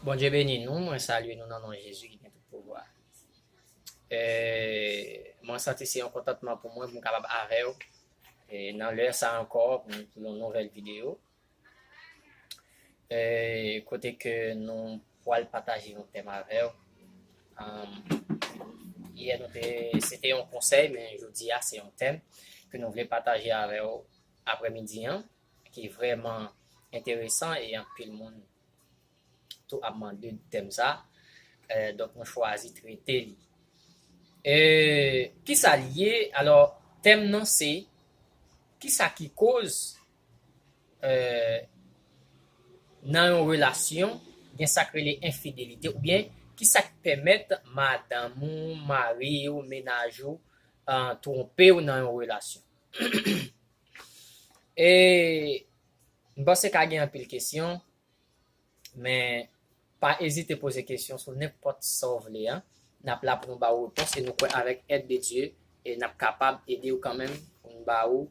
Bondye beni nou mwen salye nou nan non Jezi ki gen tout pouvwa eee mwen santi se yon kontantman pou mwen pou m kapab avèw ee nan lè sa ankò pou yon nouvèl video ee kote ke nou pwal pataje yon tèm avèw amm yè nou te se te yon konsèy men jodi a se yon tèm ke nou vle pataje avèw aprè midi an ki vrèman enteresan e anpil moun tou ap mande de tèm sa donk nou chwazi trete li e kisa li ye alò tèm nan se kisa ki koz e nan yon relasyon gen sak rele enfidelite oubyen kisa k pèmèt madanm ou mariw menaj ou twonpew nan yon relasyon. E m panse ka gen anpil kesyon men pa ezite poze kesyon sou nenpòt sa w vle an n ap la pou nou ba ou repons e nou kwè avèk èd de Dye n ap kapab ede w kanmenm pou n ba ou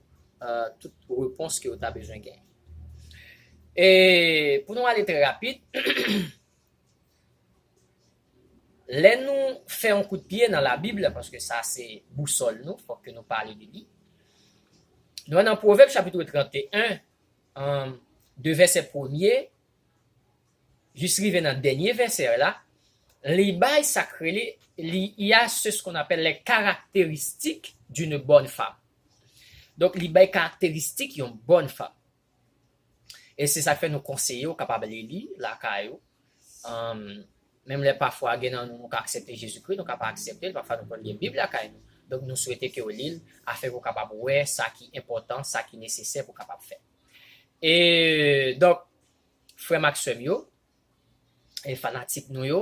tout repons ke ou ta bezwen genyen. E pou nou ale trè rapid. Lè nou fè yon kout pye nan labib la paske sa se bousòl nou fòk ke nou pale de li nou wè nan pwovèb chapitre 31 de vèsè premye jis rive nan dènye vèsè la li bay sa k rele li y a se skon apèl lè karakteristik di nou bòn fanm donk li bay karakteristik yon bòn fanm E se sak fè nou konseye ou kapab li li lakay ou menm lè pafwa gen nan nou nou ka aksepte Jezikri nou ka pa aksepte l pafwa nou konn gen bib lakay nou donk nou swete ke ou li l afin pou kapab wè sa ki enpòtan sa ki nesesè pou kapab fè e donk frè m ak sè m yo e fanatik nou yo,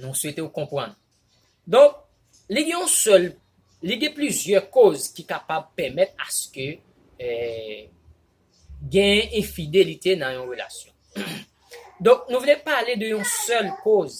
nou swete ou konprann. Donk, li gen yon sèl, li gen plizyè koz ki kapab pèmèt aske genyen enfidelite nan yon relasyon. Donk, nou vle pale de yon sèl koz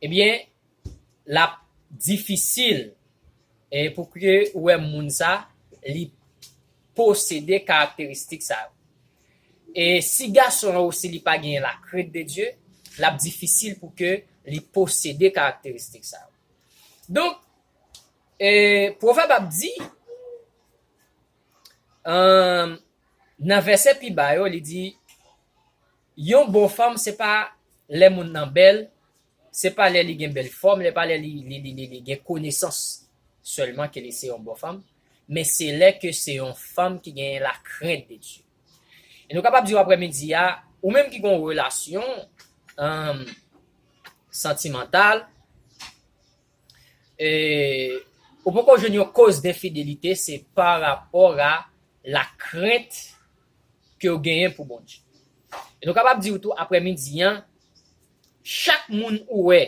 Ebyen lap difisil pou ke ou wè moun sa li posede karakteristik sa yo. E si gason an osi li pa genyen la krent de Dye, lap difisil pou ke li posede karakteristik sa yo. Donk, pwovèb ap di, nan vèsè pi ba yo li di, Yon bon fanm se pa lè moun nan bèl, se pa lè li gen bèl fòm, lè pa lè li gen konesans sèlman ke li se yon bon fanm, men se lè ke se yon fanm ki genyen la krent de Dye. E nou kapab di w aprè midi a, ou menm ki gon relasyon santimantal, ou poko jwenn yon koz denfidelite se pa rapò a la krent ke w genyen pou Bondye. E nou kapab di w tou aprè midi an, chak moun ou wè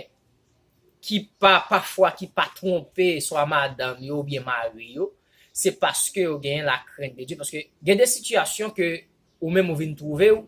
ki pa pafwa ki pa twonpe swa madanm yo oubyen mari yo, se paske yo genyen lakrent de Dye, paske gen de sitiyasyon ke ou menm ou vin twouve w,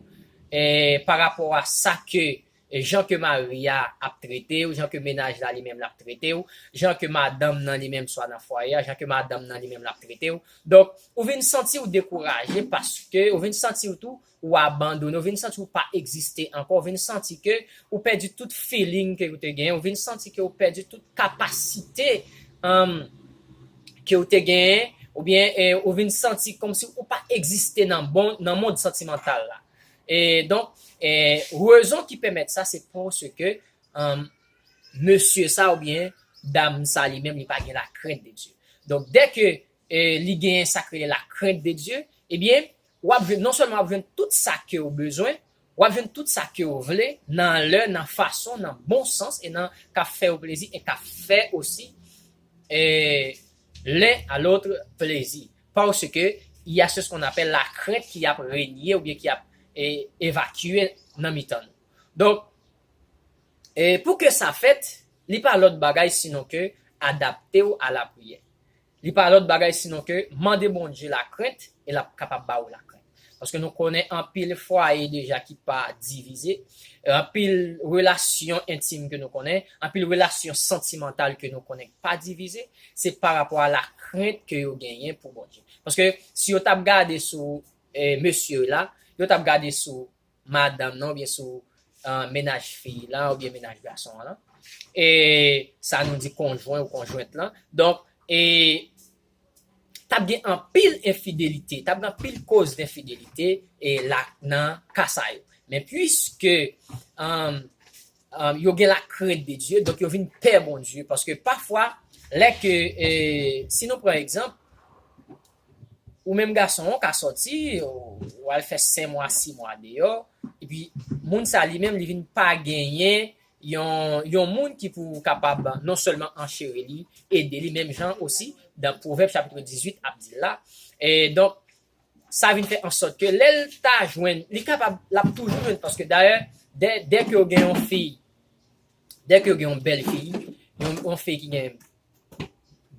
parapò a sa ke Jan ke mari a ap trete w, jan ke menaj la li menm l ap trete w, jan ke madanm nan li menm swa nan fwaye a, jan ke madanm nan li menm l ap trete w. Donk, ou vin santi w dekouraje paske ou vin santi w tou ou abandone, ou vin santi w pa egziste ankò, ou vin santi ke ou pèdi tout feeling ke ou te genyen, ou vin santi ke ou pèdi tout kapasite ke ou te genyen, oubyen ou vin santi kòmsi ou pa egziste nan mond santimantal la. E donk, e rezon ki pèmèt sa se paske mesye sa oubyen dam sa li menm li pa gen lakrent de Dye. Donk dè ke li gen sa ki rele lakrent de Dye, ebyen w ap jwenn, non sèlman w ap jwenn tout sa ke w bezwen, w ap jwenn tout sa ke w vle nan lè, nan fason, nan bon sans e nan k ap fè yo plezi e k ap fè osi e len a lotre plezi. Paske, y a se skon apèl lakrent ki ap renye oubyen ki ap evakye nan mitan nou. Donk, pou ke sa fèt, li pa lòt bagay sinon ke adapte ou a lapriyè. Li pa lòt bagay sinon ke mande Bondye lakrent e l ap kapab ba ou lakrent. Paske nou konnen anpil fwaye deja ki pa divize, anpil relasyon entim ke nou konnen, anpil relasyon santimantal ke nou konnen ki pa divize, se pa rapò a lakrent ke yo genyen pou Bondye. Paske si yo t ap gade sou mesye yo la, yo t ap gade sou madanm nan oubyen sou mennaj fi lan oubyen mennaj gason an lan, e sa nou di konjwen ou konjwent lan, donk e t ap gen anpil enfidelite, t ap gen anpil koz denfidelite e la nan ka sa yo. Men puiske yo gen lakrent de Dye, donk yo vin pè Bondye, paske pafwa lè ke, si nou pran egzanp, Ou menm gason ou ka sòti ou al fè 5 mwa 6 mwa deyò epi moun sa li menm li vin pa genyen yon moun ki pou kapab non sèlman ancheri li ede li menm jan osi nan pwovèb chapitre 18 ap di l la donk sa vin fè ansòt ke lè l ta jwenn li kapab l ap toujou jwenn paske dayè dèke ou gen yon fi dèke ou gen yon bèl fi yon fi ki gen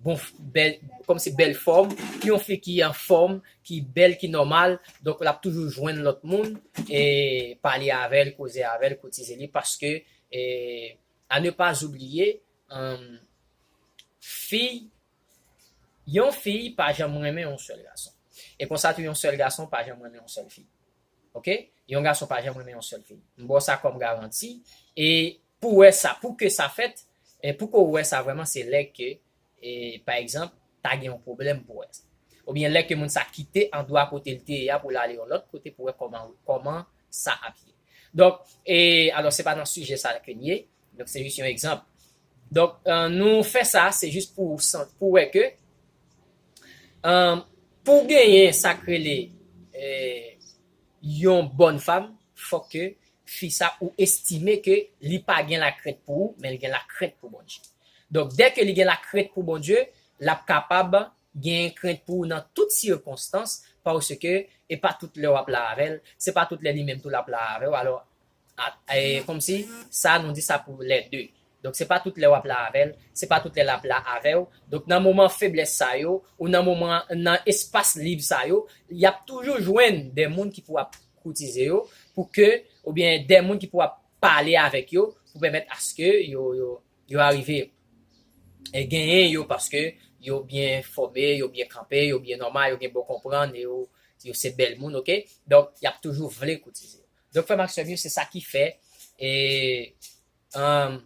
bon bèl kòm se bèl fòm yon fi ki anfòm ki bèl ki nòmal donk lap toujou jwenn lòt moun e pale avèl koze avèl kotize li paske e a ne pas oublier fiy yon fiy pa janm renmen yon sèl gason e konsa tou yon sèl gason pa janm renmen yon sèl fi ok yon gason pa janm renmen yon sèl fi m baw sa kòm garanti e Pou wè sa, pou ke sa fèt, pou ke w wè sa vrèman se lè ke pa egzanp ta gen yon pwoblèm pou wè sa. Oubyen lè ke moun sa kite andwa kote l te ye a pou l ale yon lòt kote pou wè kòman kòman sa ap ye. Donk, e alò se pa nan sijè sa ke n ye, donk se jis yon egzanp. Donk nou fè sa se jis pou sant pou wè ke pou genyen sa k rele e yon bòn fam fòk ke fi sa ou estime ke li pa gen lakrent pou ou men li gen lakrent pou Bondye donk dè ke li gen lakrent pou Bondye lap kapab gen krent pou ou nan tout sikonstans paske e pa tout lè wap la avèl se pa tout lè li menm tou lap la avèw alò Komsi sa nou di sa pou lè de. Donk se pa tout lè wap la avèl, se pa tout lè lap la avèw. Donk nan moman feblès sa yo, ou nan moman nan espas lib sa yo, yap toujou jwenn de moun ki pou ap koutize yo pou ke oubyen de moun ki pou ap pale avèk yo pou pèmèt aske yo arive genyen yo paske yo byen fòme, yo byen kanpe, yo byen nòmal, yo gen bon konprann, yo se bèl moun ok. Donk yap toujou vle koutize yo. Donk frè m ak sè m yo se sa ki fè e humm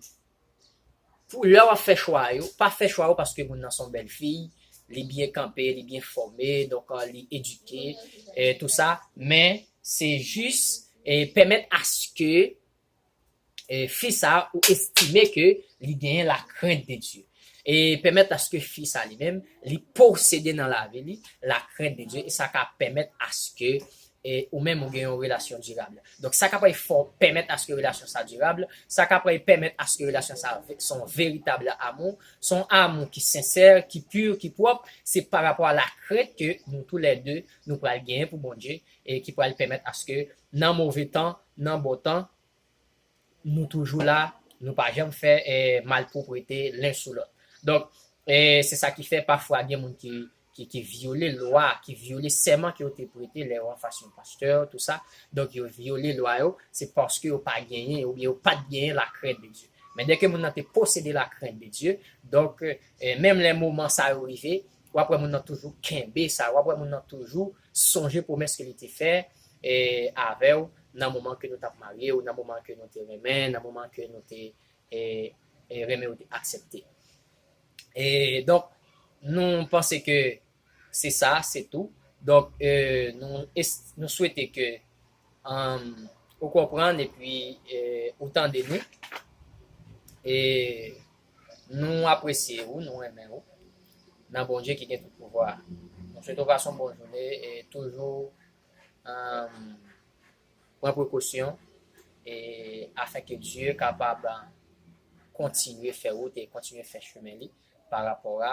pou lè wap fè chwa yo pa fè chwa yo paske moun nan son bèl fiy li byen kanpe li byen fòme donk li edike e tou sa men se jis e pèmèt aske fi sa ou estime ke li genyen la krent de Dye. E pèmèt aske fi sa li menm li posede nan lavi li la krent de Dye e sa ka pèmèt aske ou menm ou gen yon relasyon dirab. Donk sa kapab fè w pèmèt aske relasyon sa dirab, sa kapab pèmèt aske relasyon sa son veritab amou, son amou ki sensè, ki pu, ki pwòp, se pa rapò a la krent ke nou tou lè 2 nou pral genyen pou Bondye e ki pral pèmèt aske nan move tan, nan bon tan, Nou toujou la, nou pa janm fè malpwoprete len sou lòt. Donk, se sa ki fè pafwa gen moun ki vyole lwa, ki vyole sèman ke yo te prete lè yo an fas yon pastè, tou sa. Donk, yo vyole lwa yo, se paske yo pa genyen, oubyen yo pa t genyen lakrent de Dye. Men dèke moun nan te posede lakrent de Dye, donk, menm lè moman sa yo rive, Wap wè moun nan toujou kenbe sa, wap wè moun nan toujou sonje pwomès ke li te fè avèw nan moman ke nou tap marye ou nan moman ke nou te renmen, nan moman ke nou te renmen ou te aksepte. E donk nou panse ke se sa, se tou. Donk nou swete ke. ou konprann epi ou tande nou. E nou apresye ou, nou renmen ou. Nan Bondye ki gen tout pouvwa. Nou swete ou pase yon bon joune e toujou pran prekosyon e afen ke Dye kapab kontinye fè wout e kontinye fè chimen li pa rapò a